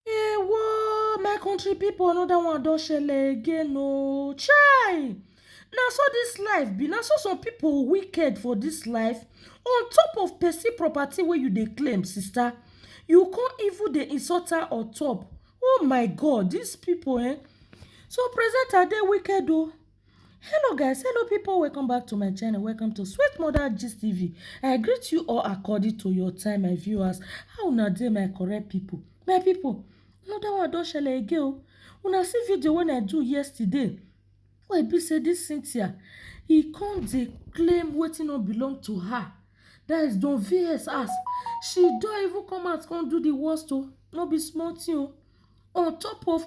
Ewo, my country people, another one don shele again oh. Chai! Na so this life be, na so some people wicked for this life. On top of person property wey you dey claim, sister, you come even dey insult her on top. Oh my God, these people eh. So presenter dey wicked oh. Hello guys, hello people, welcome back to my channel, welcome to Sweet Mother Gist TV. I greet you all according to your time, my viewers. How una dey, my correct people? My people, another one don shele again o. Una see video wey I do yesterday, wey be say this Cynthia, e come dey claim wetin no belong to her. That is Don VS ask, she don even come out come do the worst o, no be small thing o. On top of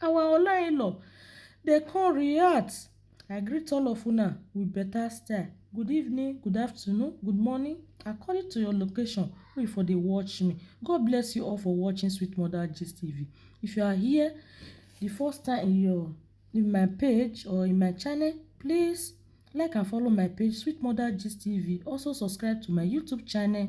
Our Ola in-law dey come react. I greet all of una with better style. Good evening, good afternoon, good morning according to your location wey you for dey watch me. God bless you all for watching Sweet Mother Gist TV. If you are here the first time in your in my page or in my channel, please like and follow my page Sweet Mother Gist TV. Also subscribe to my YouTube channel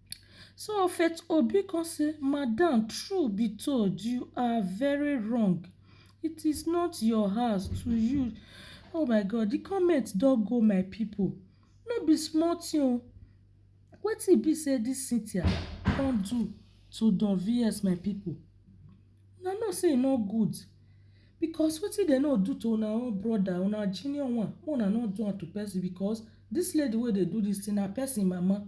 So Faith Obi come say, Madam, true be told, you are very wrong. It is not your house to you. Oh my God, the comment don go my people. No be small thing o. Wetin e be say this Cynthia come do to Don VS my people? Una know sey e no good because wetin dem no do to una own brother, una junior one, make una no do am to person because dis lady wey dey do dis thing na person mama.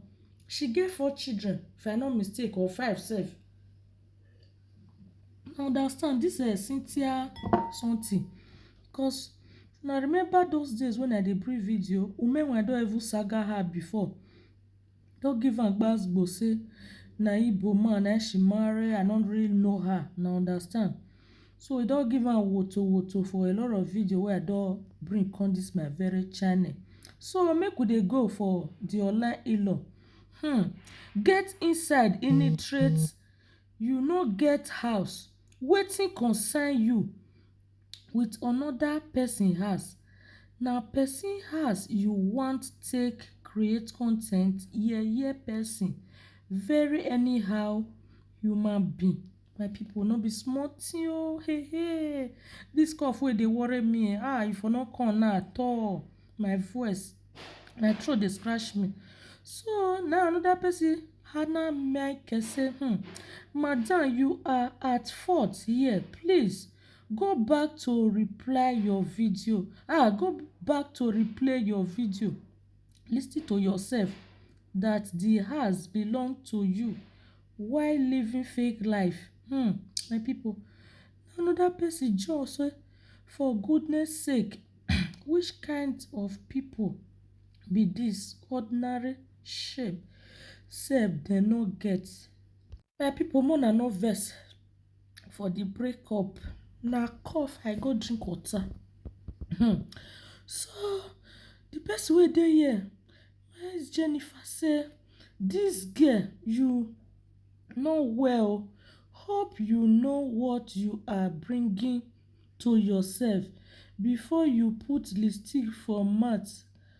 She get four children if I no mistake or five sef. Una understand dis um Cynthia something because una remember those days when I dey bring video, women were don even saga her before. No give am gbas gbos sey na ibo man na im she marry, I no really know her, una understand. So e don give am woto woto for a lot of video wey I don bring come dis my very channel. So make we dey go for de online in-law. um Get inside initreat you no get house, wetin concern you? with another person house na person house you want take create con ten t yeye person very anyhow human being my people no be small thing oo hey hey this cough wey dey worry me um e for no come now at all my voice my throat dey scratch me so na another person hana mic say um madam you are at fault here please Go back to reply your video ah go back to replay your video listen to yourself that the house belong to you why living fake life hmm my people another person just say for goodness sake which kind of people be this ordinary shame sef dem no get. My people make una no vex for the break up na cough I go drink water um so the person wey dey here na him Jennifer say this girl you no well hope you know what you are bringing to yourself before you put lipstick for mouth.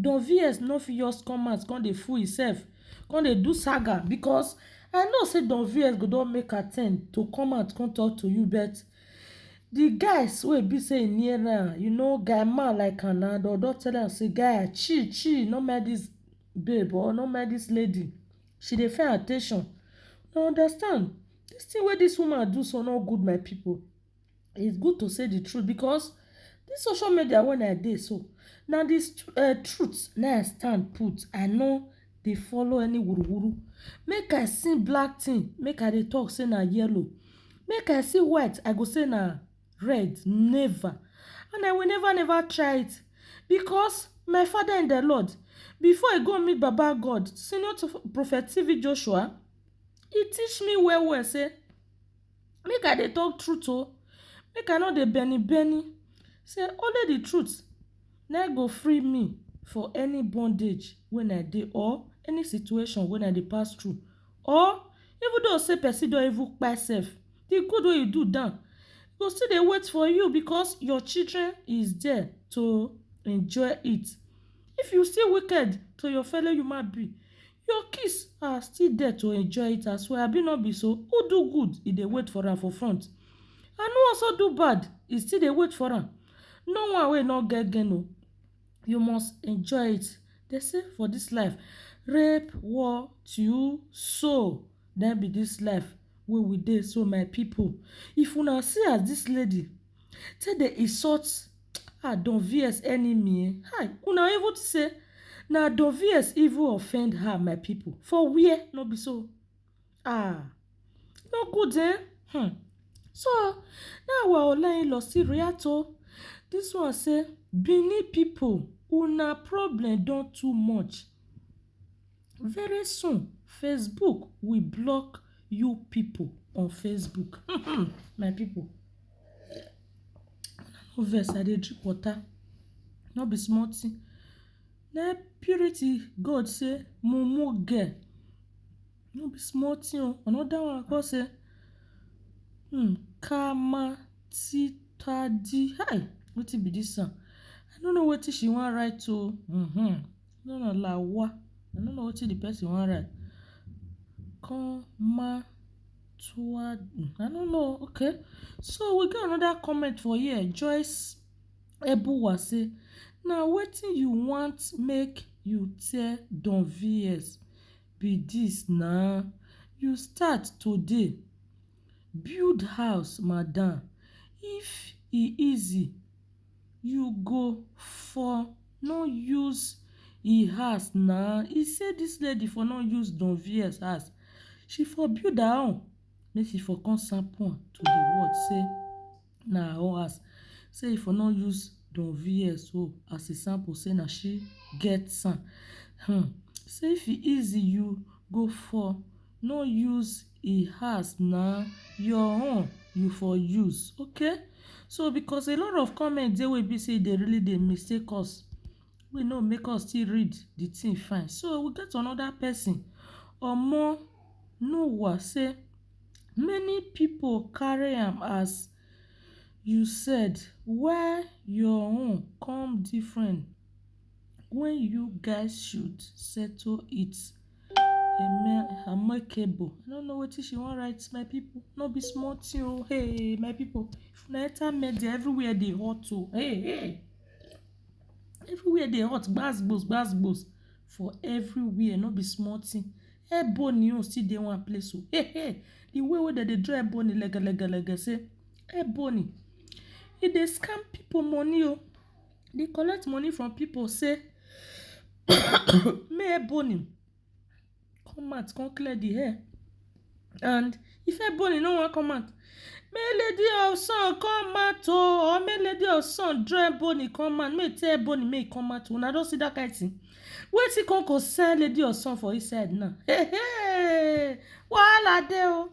Don VS no fit just come out come dey fool himself, come dey do saga because I know say Don VS go don make attempt to come out come talk to you but the guys wey e be say e near am, you know guy man like am na, dem don tell am say guy chill chill no mind this babe or no mind this lady, she dey find at ten tion, una understand? This thing wey this woman do so no good my people. it's good to say the truth because this social media when i dey so na the uh, truth na i stand put i no dey follow any wuruwuru make i see black thing make i dey talk say na yellow make i see white i go say na red never and i will never never try it because my father in the lord before i go meet baba god senior prophet tv joshua he teach me well well say Make I dey talk truth oh, make I no dey benny benny say only the truth na im go free me for any bondage when I dey or any situation when I dey pass through or even though say person don even kpai self, the good wey you do down go still dey wait for you because your children is there to enjoy it. If you still wicked to your fellow human being. Your kiss ah still there to enjoy it as well abi no be so Who do good e dey wait for am for front And who also do bad e still dey wait for am No one wey no get gain o You must enjoy it Dem say for this life Rape, war, tio, so Na im be this life wey we dey so my people If una see as this lady take dey insult ah Don VS enemy eh hi una even think say na Don VS even offend her my people for where no be so ah no good eh hmm so na our Ola in-law still react oh this one say Benin people una problem don too much. Very soon Facebook will block you pipu on Facebook um my pipu no vex I dey drink water no be small thing na im purity God say mumu girl no be small thing oo another one come say um kama titadi um wetin be dis one I no know wetin she wan write oo um No no la wa. I no know wetin the person wan write. Kon ma tua du. I no know o. Okay. So we get another comment for here. Joyce Ebuwa say, na wetin you want make you tell Don VS be dis na. You start today, build house madam. If e easy, You go for no use e house na, e say this lady for no use Don vs house, she for build her own make she for come sample am to the world say na her own house, say e for no use Don vs own as e sample say na she get am, um say if e easy you go for no use e has na your own you for use okay so because a lot of comment dey wey be say dey really dey mistake us wey no make us still read the thing fine so we get another person omo no wa say many people carry am as you said why your own come different when you guys should settle it. Eme Amekebo. I no know wetin she wan write my people. No be small thing o. Oh. Hey my people. If una enter media everywhere dey hot o. Oh. Hey hey. Everywhere dey hot gbas gbos gbas gbos for everywhere no be small thing. Ebony own still dey one place o. Oh. Hey hey. The way wey dem dey draw Ebony legelegele say Ebony e dey scam people money o. Oh. dey collect money from people say make Ebony come out come clear the hair and if Ebony no wan come out make Lady of Sun come out o or make Lady of Sun draw Ebony come out make e tell Ebony make e come out una don see that kind thing wetin come concern Lady of Sun for inside now hey hey wahala dey o.